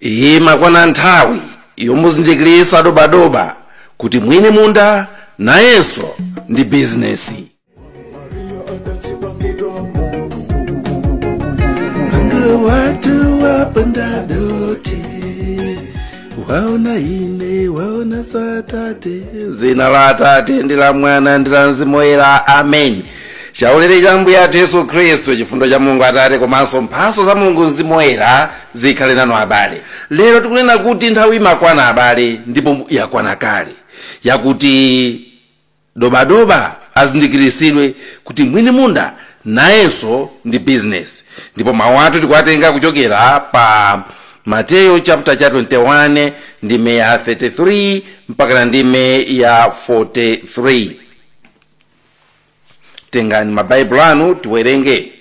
imakwana nthawi yomuzindikirisa dobadoba kuti mwini munda nayenso ndi bizinesi watu wapanda dote waona ine waona satate zina la atate ndi la mwana ndi la mzimu woyera amen chaulere cha ambuye athu yesu khristu chifundo cha mulungu atate komanso mphaso za mulungu mzimu woyera zikhale nanu abale lero tikunena kuti nthawi imakwana abale ndipo yakwana kale yakuti dobadoba azindikiritsidwe kuti mwini munda nayenso ndi bizinesi ndipo mawu athu tikuwatenga kuchokera pa mateyo chapter cha 21 ndime ya 33 mpakana ndime ya 43 tengani mabaibulo anu tiwerenge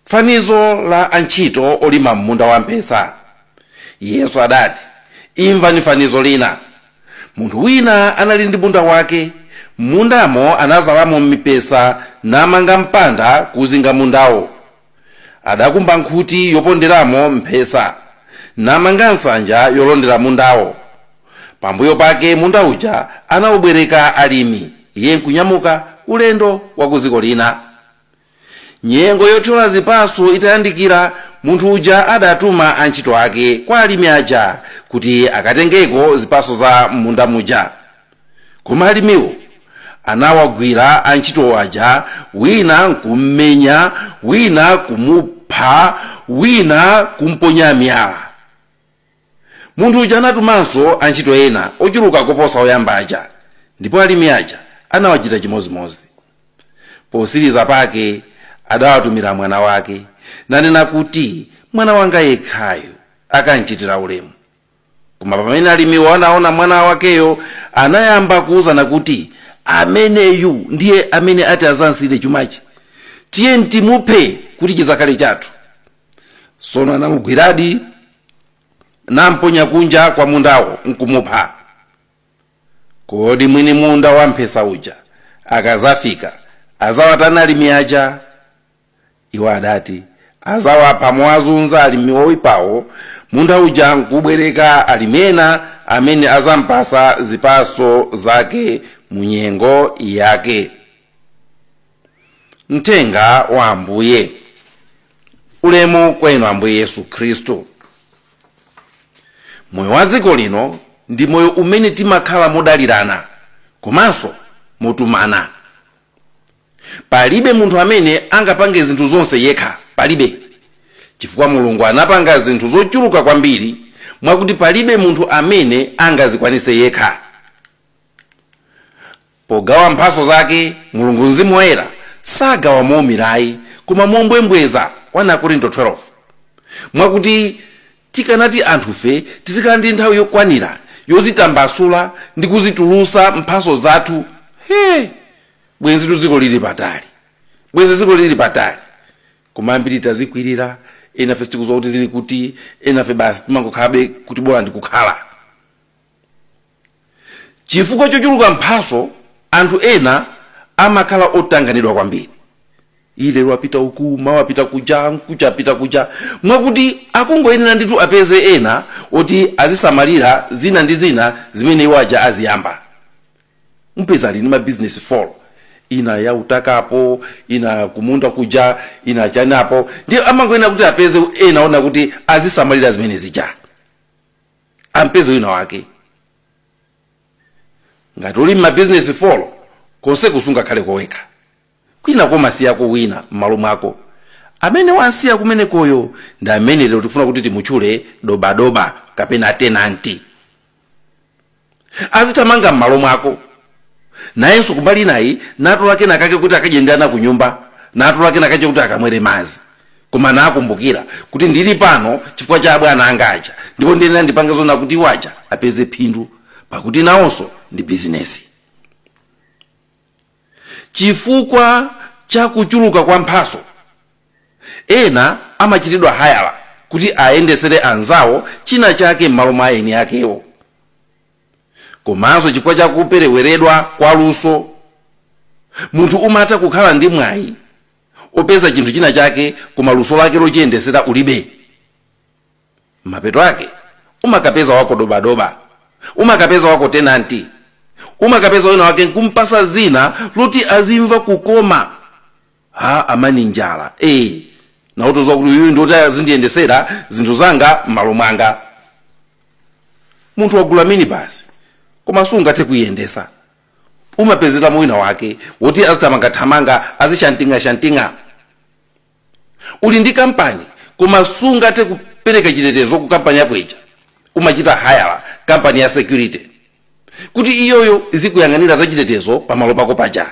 fanizo la antchito olima m'munda wa mphesa yesu adati imvani fanizo lina munthu wina anali ndi munda wake m'mundamo anazalamo mipesa namanga mpanda kuzinga mundawo adakumba nkhuti yoponderamo mphesa namanga nsanja yolondera mundawo pambuyo pake munda uja anawubwereka alimi iye nkunyamuka ulendo wa ku dziko lina nyengo yothyola zipatso itayandikira munthu uja adatuma antchito ake kwa alimi aja kuti akatengeko zipatso za munda muja koma alimiwo anawagwira antchito aja wina nkummenya wina kumupha wina kumponya miyala munthu uja anatumanso antchito ena ochuluka koposa oyamba aja ndipo alimi aja anawachita chimodzimodzi posiriza pake adawatumira mwana wake nanena kuti mwana wanga yekhayu akamchitira ulemu koma pamene alimiwo anaona mwana wakeyo anayamba kuwuzana kuti ameneyu ndiye amene ati azansiire chumachi tiyeni timuphe kuti chizakhale chathu sono anamugwiradi namponya kunja kwa mundawo nkumupha kodi mwini munda wa mphesa uja akazafika azawatani alimi aja Iwo adati azawapha mowazunza alimi oipawo munda uja nkubwereka alimi ena amene azampasa zipaso zake mu nyengo yake. Mthenga wa Ambuye. Ulemu kwa inu Ambuye Yesu Khristu. Moyo wa dziko lino ndi moyo umene timakhala modalirana komanso motumana. Palibe munthu amene angapange zinthu zonse yekha, palibe, chifukwa Mulungu anapanga zinthu zochuluka kwambiri mwakuti palibe munthu amene angazikwanitse yekha. Pogawa mphatso zake, Mulungu Mzimu Woyera sagawa moumira ayi, koma mombwembweza, 1 Akorinto 12, mwakuti Tikanati anthufe tizikhala ndi nthawi yokwanira yozitambasula ndi kuzitulusa mphaso zathu hee bwenzitu dziko lili patali bwenzi dziko lili patali koma ambiri tazikwirira enafe sitikuziwa kuti zili kuti enafe basi timangokhalabe kuti bola ndikukhala Chifukwa chochuluka mphatso, anthu ena amakhala otanganidwa kwambiri. Ii lero apita uku, mawa apita kuja, mkucha apita kuja, mwakuti akungoyenera ndithu apeze ena oti azisamalira zina ndi zina zimene iwo aja aziyamba. Mupeza ali ndi mabizinesi folo, ina ya utaka apo, ina kumunda kuja, ina chani apo, ndiye amangoyenera kuti apeze ena ona kuti azisamalira zimene zija. umpeze wina wake ngati uli mmabizinesi folo konse ko sungakhale ko wekha kwina kumasiyako wina m'malo mwako amene wansiya kumenekoyo ndi amene lero tikufuna kuti timutchule dobadoba kapena tenanti azithamanga m'malo mwako nayenso kumbali inayi natola kena kake kuti akadye ndi ana ku nyumba natola kena kake kuti akamwere madzi koma nakumbukira kuti ndili pano chifukwa cha abwana anga aja ndipo ndiyenera ndipange zoona kuti iwo aja apeze phindu pakuti nawonso ndi bizinesi Chifukwa cha kuchuluka kwa mphatso, ena amachitidwa hayala kuti ayendetsere anzawo china chake m'malo mwa eni akewo. Komanso chifukwa cha kupereweredwa kwa luso, munthu umatha kukhala ndi mwayi wopeza chinthu china chake koma luso lake lochiyendetsera ulibe. mapeto ake umakapeza wako dobadoba umakapeza wako tenanti umakapeza wina wake nkumpasa zina loti azimva kukoma ha amani njala eh namutoza kuti uyu ndiwoti azindiyendesera zinthu zanga m'malo mwanga munthu wagula minibasi koma sungathe kuiyendesa umapezeramo wina wake woti azithamangathamanga azishantingashantinga Uli ndi kampani koma sungathe kupereka chitetezo ku kampani yako ija, umachita hayala kampani ya security kuti iyoyo izikuyang'anira za chitetezo pa malo pako paja.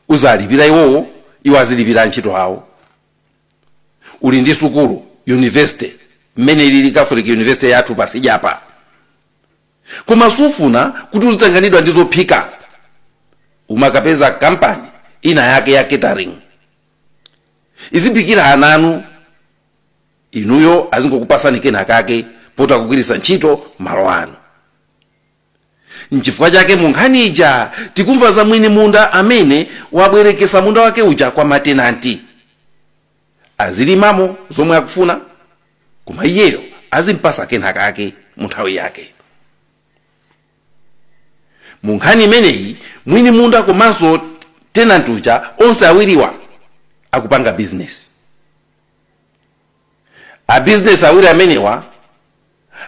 Uzilipira iwowo, iwo azilipira antchito awo. Uli ndi sukulu, university, mmene ilili Catholic University yathu pasijapa. koma sufuna kuti uzitanganidwa ndi zophika umakapeza kampani ina yake ya catering iziphikira ana anu inuyo azingokupasani kena kake poti akugwiritsa ntchito malo anu nchifukwa chake mu nkhani ija tikumva za mwini munda amene wabwerekesa munda wake uja kwa matenanti azilimamo zomwe akufuna koma iyeyo azimpasa kena kake mu nthawi yake mu nkhani imeneyi mwini munda komanso tenant uja onse awiriwa akupanga bizinesi abizinesi awiri amenewa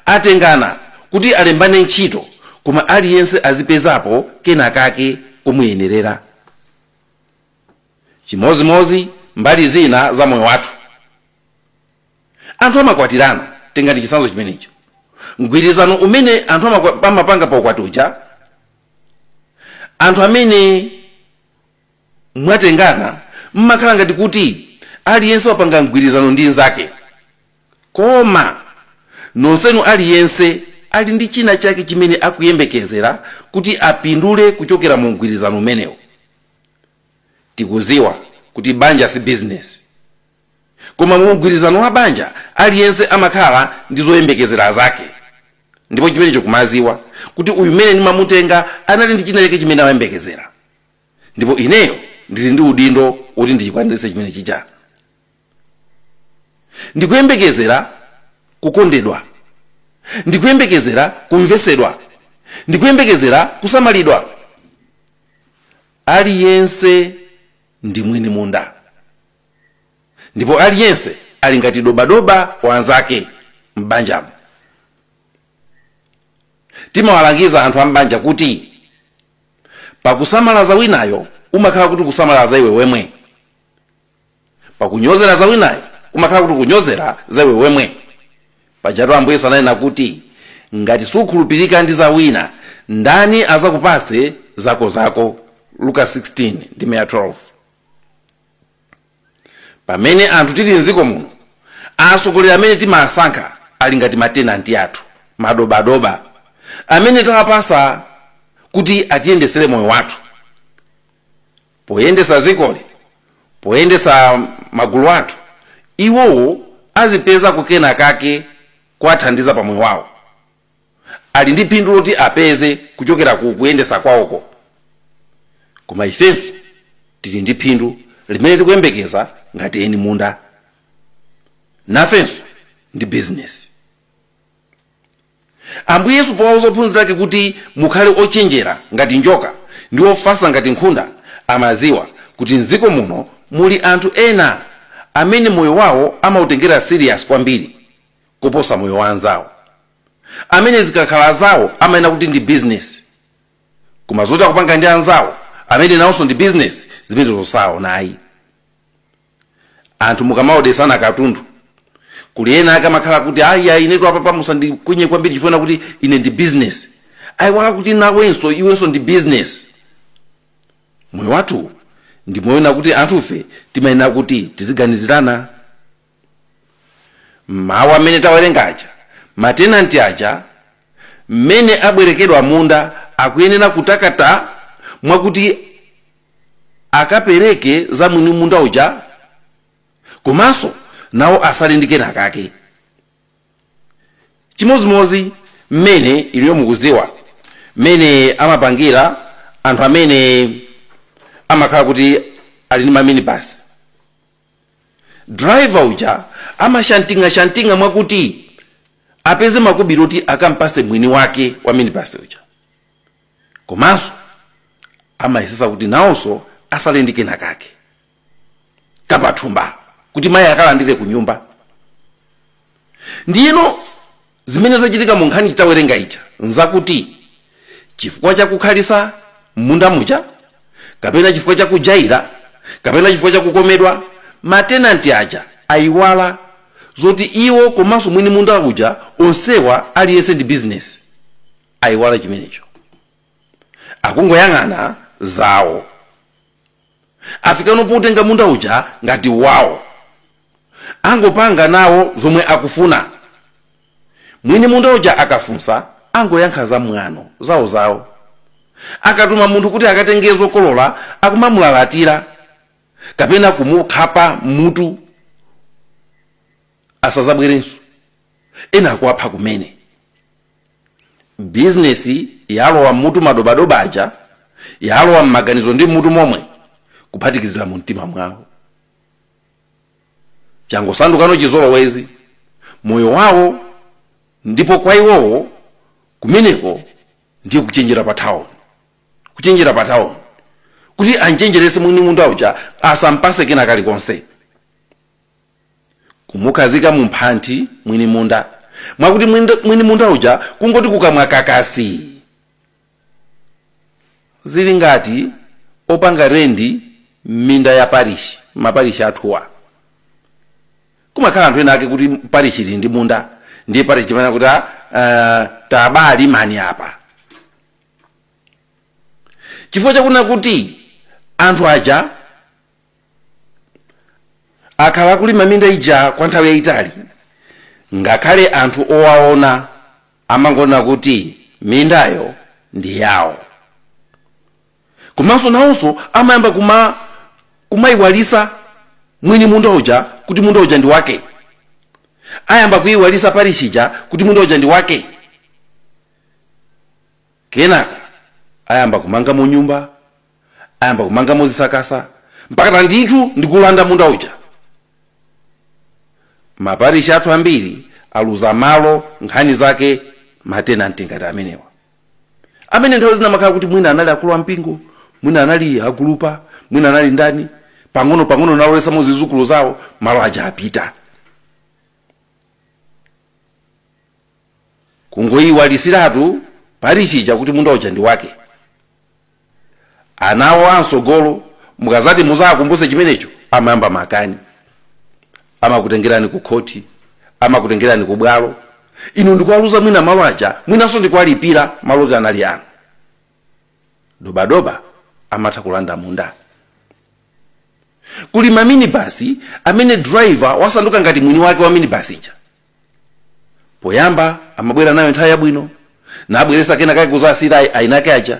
atengana kuti alembane ntchito koma aliyense azipezapo kena kake komuyenerera chimozimozi mbali zina za moyo wathu anthu amakwatirana tengani chisanzo chimenecho mgwirizano umene anthu amapanga pa ukwati uja anthu amene mwatengana mmakhala ngati kuti aliyense wapanga mgwirizano ndi nzake koma nonsenu aliyense ali ndi china chake chimene akuyembekezera kuti apindule kuchokera mu mgwirizano umenewo Tikuziwa kuti banja si business koma mu mgwirizano wa banja aliyense amakhala ndi zoyembekezera zake ndipo chimenecho kumaziwa kuti uyu mene ndimamutenga anali ndi china chake chimene amayembekezera ndipo ineyo ndili ndi udindo woti ndichikwaniritse chimene chija. ndikuyembekezera kukondedwa ndikuyembekezera kumvesedwa ndikuyembekezera kusamalidwa aliyense ndi mwini munda ndipo aliyense ali ngati dobadoba wa nzake m'banjamo timawalangiza anthu a m'banja kuti pakusamalaza winayo umakhala kuti kusamalaza iwe wemwe pakunyozera za winayo kumakhala kuti kunyozera za iwe wemwe pajatu ambuye yesu ananena kuti ngati sukhulupirika ndi za wina ndani azakupase zako zako luka 16 ndime ya 12 pamene anthu tili mdziko muno atsogoleri amene timasankha ali ngati matenanti athu madobadoba amene tawapasa kuti atiyendesere moyo wathu poyendesa dzikoli, poyendesa magulu athu, iwowo azipezako kena kake kowathandiza pa moyo wawo. Ali ndi phindu loti apeze kuchokera ku kuyendesa kwawoko. Koma ifenso tili ndi phindu limene tikuyembekeza ngati eni munda. Nafenso ndi bizinesi. Ambuye Yesu powauza ophunzira ake kuti mukhale ochenjera ngati njoka ndi ofatsa ngati nkhunda, amadziwa kuti m'dziko muno muli anthu ena amene moyo wawo amautengera serious kwambiri kuposa moyo wa anzawo, amene zikakhala zawo amanena kuti ndi business koma zoti akupanga ndi anzawo amene nawonso ndi business zimenezo saziona ayi. anthu mukamaodesana katundu kuli ena ake amakhala kuti ayi inetu apapa musandikwenye kwambiri chifukwa choti ine ndi business ayiwala kuti nawenso iwenso ndi business moyo wathu ndi moyo wakuti anthufe timayenera kuti tiziganizirana mawu amene tawerenga aja matenanti aja mmene abwerekedwa munda akuyenera kutakata mwakuti akapereke za mwini munda uja komanso nawo atsale ndi kena kake chimodzimodzi mmene inuyo mukudziwa mmene amapangira anthu amene amakhala kuti ali ndi maminibasi driver uja amashantinga shantinga mwakuti apeze makobiri oti akampase mwini wake wa minibasi uja komanso amayesetsa kuti nawonso atsale ndi kena kake kapathumba kuti mayi akalandire ku nyumba ndiyeno zimene zachitika mu nkhani tawerenga ija nzakuti chifukwa chakukhalitsa m'munda muja kapena chifukwa chakujaira kapena chifukwa chakukomedwa matenanti aja ayiwala zoti iwo komanso mwini munda uja onsewa aliyense ndi bizinesi ayiwala chimenecho akungoyang'ana zawo afikano potenga munda uja ngati wawo angopanga nawo zomwe akufuna mwini munda uja akafunsa angoyankha za mwano zawo zawo akatuma munthu kuti akatenge zokolola akumamulalatira kapena kumukhapa mutu asazabwerenso ena akuwapha kumene bizinesi yalowa mmutu madobadoba aja yalowa mmaganizo ndi mmutu momwe kuphatikizira mu mtima mwawo changosandukano chizolowezi moyo wawo ndipo kwa iwowo kumeneko ndiye kuchenjera pa town kuchenjera pa town kuti anchenjeretse mwini munda uja asampatse kena kalikonse kumukhazika mu mphanthi mwini munda mwakuti mwinda- mwini munda uja kungoti kukamwa kakasi zili ngati opanga rendi m'minda ya parishi maparishi athuwa kumakhala anthu ena ake kuti parishi ili ndi munda ndiye parishi imanena kuti uh, tabalimani apa chifukwa chakunena kuti anthu aja akhala akulima minda ija kwa nthawi yayitali ngakhale anthu owaona amangonena kuti mindayo ndi yawo komanso nawonso amayamba kuma kumayiwalisa mwini munda uja kuti munda uja ndi wake ayamba kuyiwalisa parishi ija kuti munda uja ndi wake kenaka ayamba kumangamo nyumba ayamba kumangamo zisakasa mpakana ndithu ndikulanda munda uja maparishi athu ambiri aluza malo nkhani zake matenanti ngati amenewa amene nthawi zina amakhala kuti mwina anali akulu a mpingo mwina anali agulupa mwina anali ndani pang'ono pang'ono nalowesamo zizukulu zawo malo aja apita kungoiwalisiratu parishi ija kuti munda uja ndi wake ana awo amsogolo mukazati muzakumbuse chimenecho amayamba makani amakutengerani ku khoti amakutengerani ku bwalo inu ndikuwaluza mwina malo aja mwinanso ndikuwalipira malo oti anali anu dobadoba amatha kulanda munda kuli maminibasi amene driver wasanduka ngati mwini wake wa minibasi ija poyamba amabwera nayo nthawi yabwino nabweresa kena kake kuzasiyira ayi- ayinake aja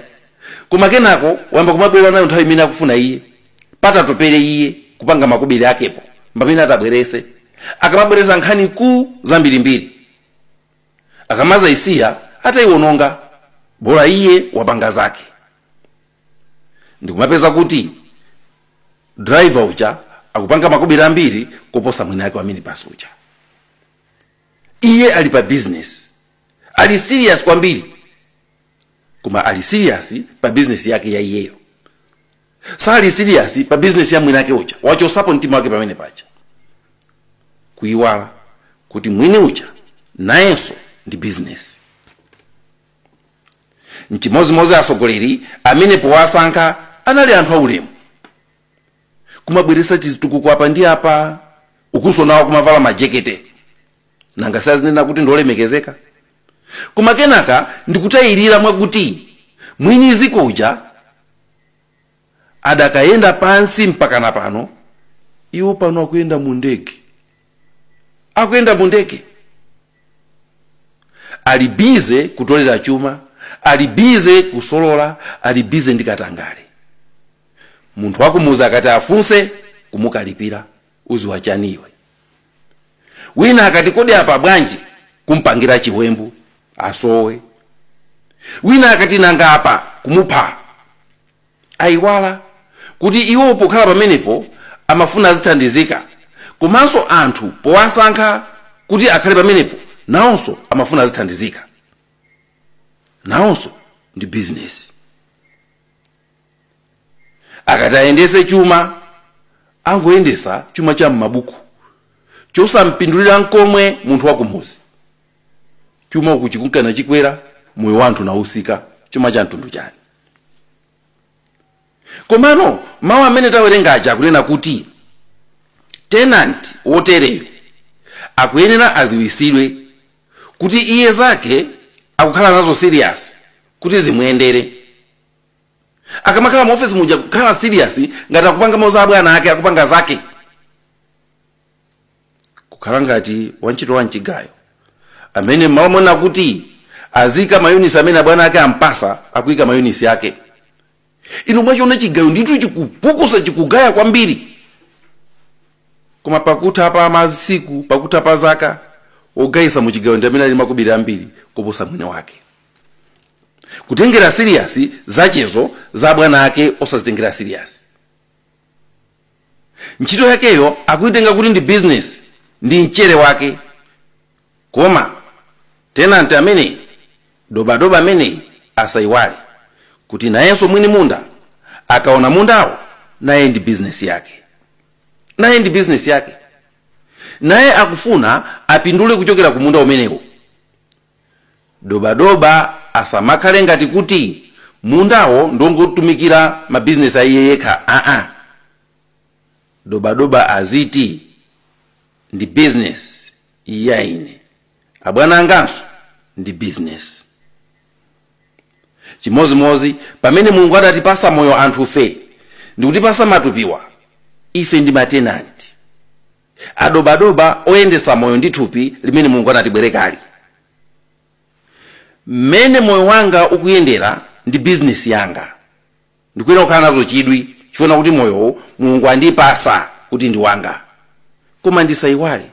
koma kenako wayamba kumabwera nayo nthawi imene akufuna iye kuti atapere iye kupanga makobiri ake mpamene atabwerese akamabweresa nkhani zambirimbiri akamazaisiya atayiwononga bola iye wapanga zake ndikumapeza kuti driver uja akupanga makobiri ambiri kuposa mwini ake wa minibus uja iye ali pa business ali serious kwambiri koma ali serious pa business yake ya iyeyo sali serious pa business ya mwini ake uja wachosapo mtima wake pamene paja kuyiwala kuti mwini uja nayenso ndi business nchimozimozi asogoleri amene powasankha anali anthu aulemu kumabweresa chitukuko apa ndi apa ukunso nawo kumavala majekete nanga si azinena kuti ndi olemekezeka koma kenaka ndikutayirira mwakuti mwini ziko uja adakayenda pansi mpakana pano iwo pano akuyenda mu ndege akuyenda mu ndege ali bize kutolera chuma ali bize kusolola ali bize ndi katangale munthu wakumuzi akati afunse kumukalipira uziwa chani iwe wina akati kodi apa bwanji kumpangira chiwembu asowe wina akati nanga apa kumupha ayiwala kuti iwo pokhala pamenepo amafuna azithandizika komanso anthu powasankha kuti akhale pamenepo nawonso amafuna azithandizika nawonso ndi bizinesi akati ayendese chuma angoyendesa chuma cha m'mabuku chosampindulira nkomwe munthu wakumuzi chuma uku chikunka nachikwera moyo wa anthu nausika chuma cha mtundu chani komano mawu amene tawerenga aja akunena kuti tenant wotereyo akuyenera aziwisidwe kuti iye zake akukhala nazo serious kuti zimuyendere akamakhala mu office muja kukhala serious ngati akupangamo za abwana ake akupanga zake kukhala ngati wantchito wa mchigayo amene mmalo monena kuti aziika mayunisi amene abwana ake ampasa akuika mayunisi ake inu mwachiona chigayo nditu chikupukusa chikugaya kwambiri koma pakutha pa masiku pakutha pa zaka ogayisa mu chigayo ndi amene ali makobiri ambiri koposa mwini wake kutengera serious zachezo za abwana ake osazitengera serious ntchito yakeyo akuitenga kuti ndi bizinesi ndi mchere wake koma tenanti ameneyi dobadoba ameneyi asayiwale kuti nayenso mwini munda akaona mundawo naye ndi bizinesi yake naye ndi bizinesi yake naye akufuna apindule kuchokera ku munda umenewo Dobadoba asamakhale ngati kuti mundawo ndongotumikira mabizinesi a iye yekha aa. Dobadoba aziti ndi bizinesi ya ine, abwana anganso ndi bizinesi. Chimozimozi pamene Mulungu adatipasa moyo anthufe ndikutipasa matupiwa, ife ndi matenanti. Adobadoba oyendesa moyo ndi thupi limene Mulungu anatibwereka. Mmene moyo wanga ukuyendera ndi bizinesi yanga ndikuyenera kukhala nazo chidwi chifukwa kuti moyowo Mulungu andipasa kuti ndi wanga. Koma ndisaiwale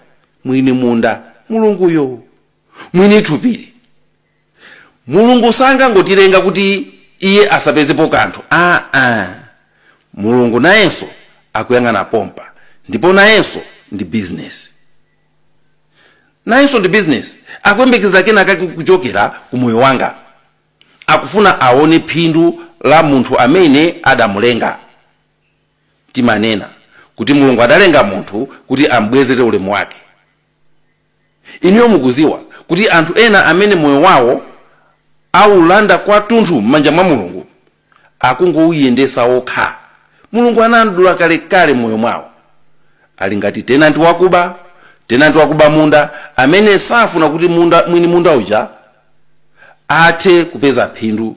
mwini munda Mulunguyo, mwini thupili. mulungu sangangotilenga kuti iye asapezepo kanthu aa mulungu nayenso akuyang'ana pompa ndipo nayenso ndi bizinesi nayenso ndi bizinesi akuyembekezera kenakake kuchokera ku moyo wanga akufuna aone phindu la munthu amene adamulenga timanena kuti mulungu adalenga munthu kuti ambwezere ulemu wake Inuyo mukudziwa kuti anthu ena amene moyo wawo aulanda kwathunthu m'manja mwa Mulungu akungouyendetsa okha. Mulungu anamdula kalekale m'moyo mwawo. Ali ngati tenanti wakuba, tenanti wakuba munda amene safuna kuti munda, mwini munda uja athe kupeza phindu,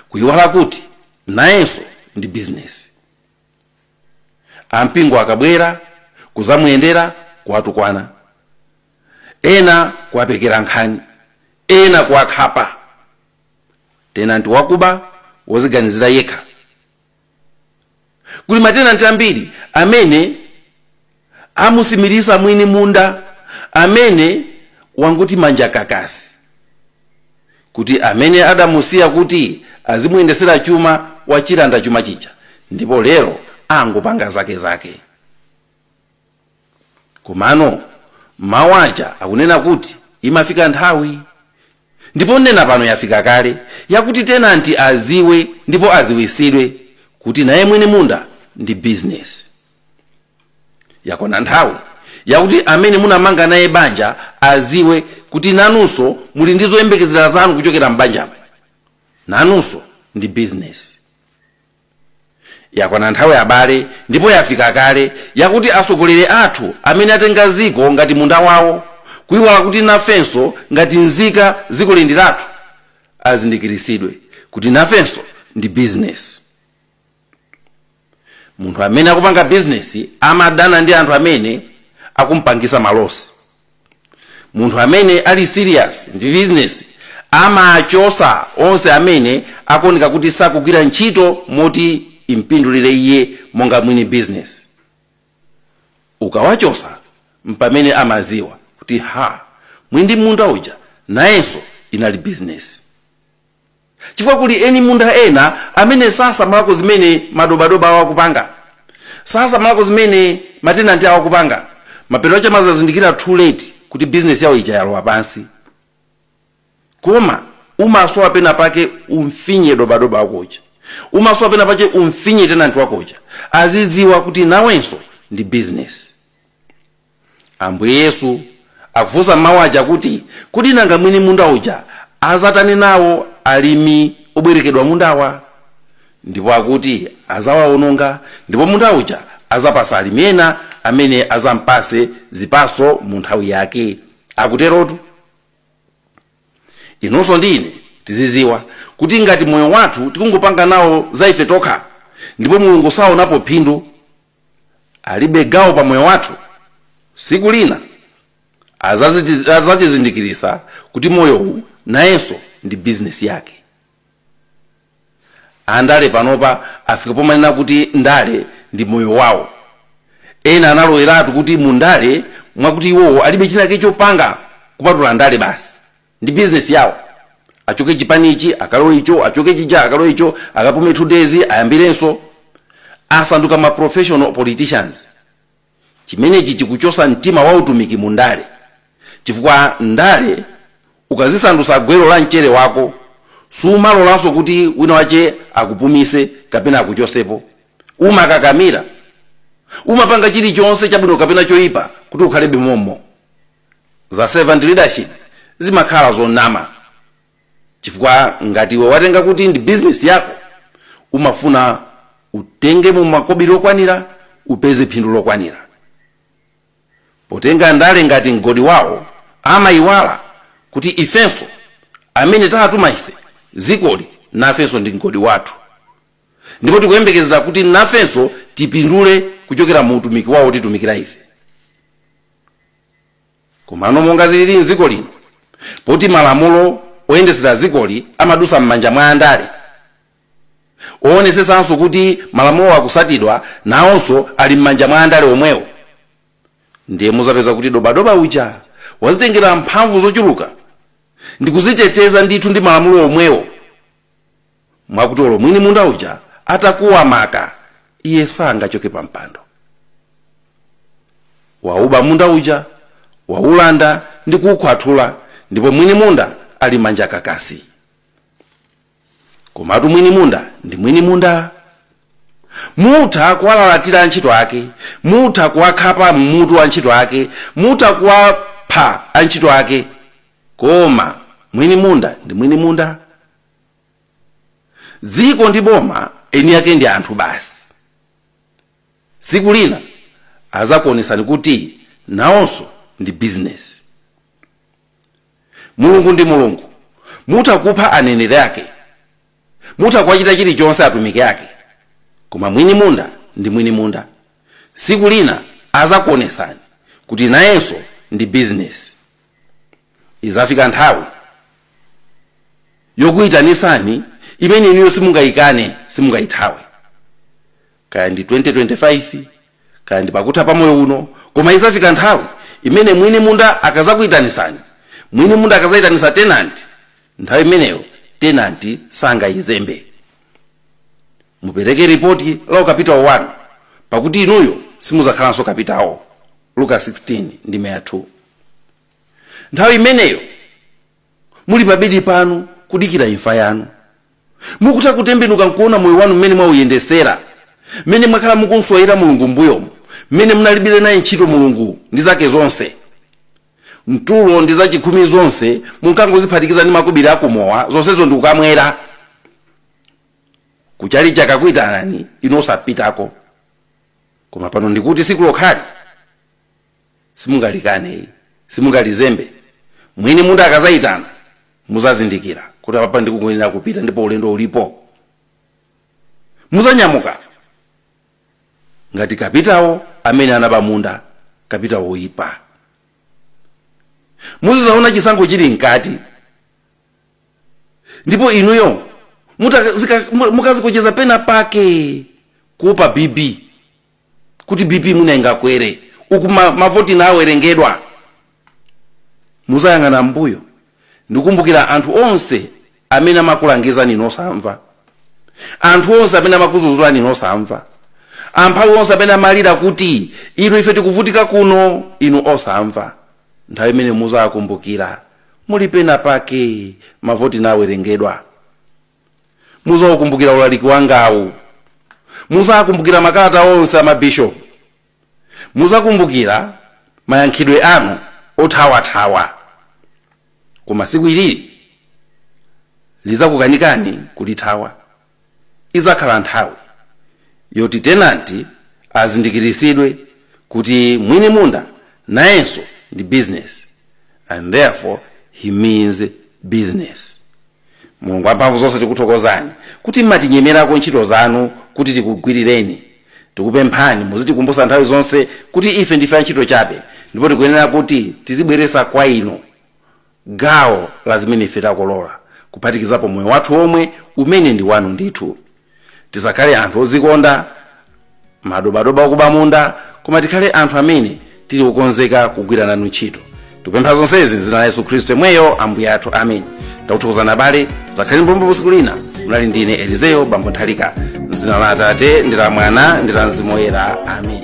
kuiwala kuti nayenso ndi bizinesi. ampingo akabwera kuzamuyendera kuwatukwana ena kuwapekera nkhani ena kuwakhapa tenanti wakuba woziganizira yekha kuli matenanti ambiri amene amusimilisa mwini munda amene wangoti manja kakasi kuti amene adamusiya kuti azimuyendesera chuma wachilanda chuma chija ndipo lero angopanga zake zake komano mawu aja akunena kuti imafika nthawi ndipo nnena pano yafika kale yakuti tenanti aziwe ndipo aziwisidwe kuti naye mwini munda ndi bizinesi yakwana nthawi yakuti amene munamanga naye banja aziwe kuti nanunso muli ndi zoyembekezera zanu kuchokera m'banjamo nanunso ndi bizinesi yakwana nthawi abale ndipo yafika kale yakuti atsogoleri athu amene atenga ziko ngati munda wawo kuiwala kuti nafenso ngati nzika zikoli ndi lathu azindikiritsidwe kuti nafenso ndi bizinesi munthu amene akupanga bizinesi amadana ndi anthu amene akumpangisa malosi munthu amene ali serious ndi bizinesi amachosa onse amene akuoneka kuti sakugwira ntchito moti impindulire iye monga mwini bizinesi ukawachosa mpamene amaziwa kuti ha mwini munda uja nayenso inali bizinesi Chifukwa kuli eni munda ena amene sasamalako zimene madobadoba awo akupanga, sasamalako zimene matenanti awo akupanga, mapeto ake amazazindikira too late kuti bizinesi yawo ija yalowa pansi. Koma umasowa pena pake umfinye dobadoba wako uja, umasowa pena pache umfinye tenanti wako uja azidziwa kuti nawenso ndi bizinesi. Ambuye Yesu akufunsa mawu aja akuti, Kodi nanga mwini munda uja adzatani nawo alimi obwerekedwa mundawa? Ndipo akuti adzawawononga, ndipo munda uja adzapatsa alimi ena amene adzampatse zipatso mu nthawi yake. Akuterotu. Inunso ndi ine tizidziwa kuti ngati moyo wathu tikungopanga nawo za ife tokha ndipo Mulungu saonapo phindu, alibe gawo pa moyo wathu siku lina azatizindikirisa kuti moyowu nayenso ndi bizinesi yake andale panopa afika pomanena kuti ndale ndi moyo wawo ena analoweratu kuti mu ndale mwakuti iwowo alibe chinake chopanga kupatula ndale basi ndi business yawo achoke chipani ichi akalowe icho achoke chija akalowe icho akapume two days ayambirenso asanduka ma professional politicians chimenechi chikuchosa mtima wa utumiki mu ndale chifukwa ndale ukazisandusa gwero la mchere wako sumalolanso kuti wina wache akupumise kapena akuchosepo umakakamira umapanga chilichonse chabwino kapena choyipa kuti ukhalebe mommo za servant leadership zimakhala zonama chifukwa ngati iwe watenga kuti ndi bizinesi yako umafuna utengemo makobiri okwanira upeze phindu lokwanira potenga ndale ngati mgodi wawo amayiwala kuti ifenso amene tawatuma ife zikoli nafenso ndi mgodi wathu ndipo tikuyembekezera kuti nafenso tipindule kuchokera mu utumiki wawo wotitumikira ife komano monga zilili mdziko lino poti malamulo oyendetsera dzikoli amadusa m'manja mwa andale owonesetsanso kuti malamulo akusatidwa nawonso ali m'manja mwa andale omwewo ndiye muzapeza kuti dobadoba uja wazitengera mphamvu zochuluka ndikuziteteza ndithu ndi malamulo omwewo mwakuti olo mwini munda uja atakuwa maka iye sangachoke pa mpando wauba munda uja waulanda ndi kuukhwathula ndipo mwini munda ali manja kakasi komatu mwini munda ndi mwini munda mutha kuwalalatira antchito ake mutha kuwakhapa mmutu antchito ake mutha kuwapha antchito ake koma mwini munda ndi mwini munda dziko ndi boma eni ake ndi anthu basi tsiku lina azakuonesani kuti nawonso ndi bizinesi mulungu ndi mulungu mutha kupha aneneri ake mutha kuwachita chilichonse atumiki ake koma mwini munda ndi mwini munda tsiku lina azakuonesani kuti nayenso ndi bizinesi izafika nthawi yokuitanisani imene inuyo simungayikane simungayithawe kaya ndi 2025 kaya ndi pakutha pa moyo uno koma izafika nthawi imene mwini munda akazakuitanisani mwini munda akazayitanisa tenanti nthawi imeneyo tenanti sangayizembe mupereke ripoti la ukapitawo wanu pakuti inuyo simuzakhalanso kapitawo luka 16 ndime ya 2 nthawi imeneyo muli pabedi panu kudikira imfa yanu mukutha kutembenuka nkuona moyo wanu mmene mwauyendesera mmene mwakhala mukumuswayira mulungu mbuyomu mmene munalibire naye ntchito mulungu ndi zake zonse mitulo ndi zachikhumi zonse munkangoziphatikiza ndi makobiri akumowa zonsezo ndikukamwera kutchalitcha kakuitanani inu osapitako koma pano ndikuti siku lokhalo simungalikane ili simungalizembe mwini munda akazayitana muzazindikira kuti apapa ndikuyenera kupita ndipo ulendo ulipo muzanyamuka ngati kapitawo amene anaba munda kapitawo oyipa muzizaona chisankho chili mkati ndipo inuyo muta- zika- mu- mukazikocheza pena pake kuopa bp kuti bp mwina ingakwere uku ma- mavoti nawerengedwa muzayang'ana mbuyo ndikukumbukira anthu onse amene amakulangizani inu osamva anthu onse amene amakuzuzulani inu osamva amphawi onse amene amalira kuti inu ife tikuvutika kuno inu osamva nthawi imene muzakumbukira muli pena pake mavoti nawerengedwa muzaukumbukira ulaliki wangawu muzakumbukira makalata onse a mabishopu muzakumbukira mayankhidwe anu othawathawa koma siku ilili lizakukanikani kulithawa izakhala nthawi yoti tenanti azindikiritsidwe kuti mwini munda nayenso ndi business and therefore he means business mulungu wamphamvu zonse tikuthokozani kuti mmatinyemerako ntchito zanu kuti tikugwirireni tikupemphani muzitikumbutsa nthawi zonse kuti ife ndife antchito chabe ndipo tikuyenera kuti tizibweresa kwa inu gawo la zimene ife takolola kuphatikizapo moyo wathu omwe umene ndi wanu ndithu tisakhale anthu ozikonda madobadoba okuba munda koma tikhale anthu amene tili okonzeka kugwira nanu ntchito tikupempha zonsezi mzina la yesu khristu yemweyo ambuye athu amen ndakuthokozani abale zakhaleni mbombo usiku lina munali ndine elizeyo bambo nthalika mzina la atate ndi la mwana ndi la mzimu woyera amen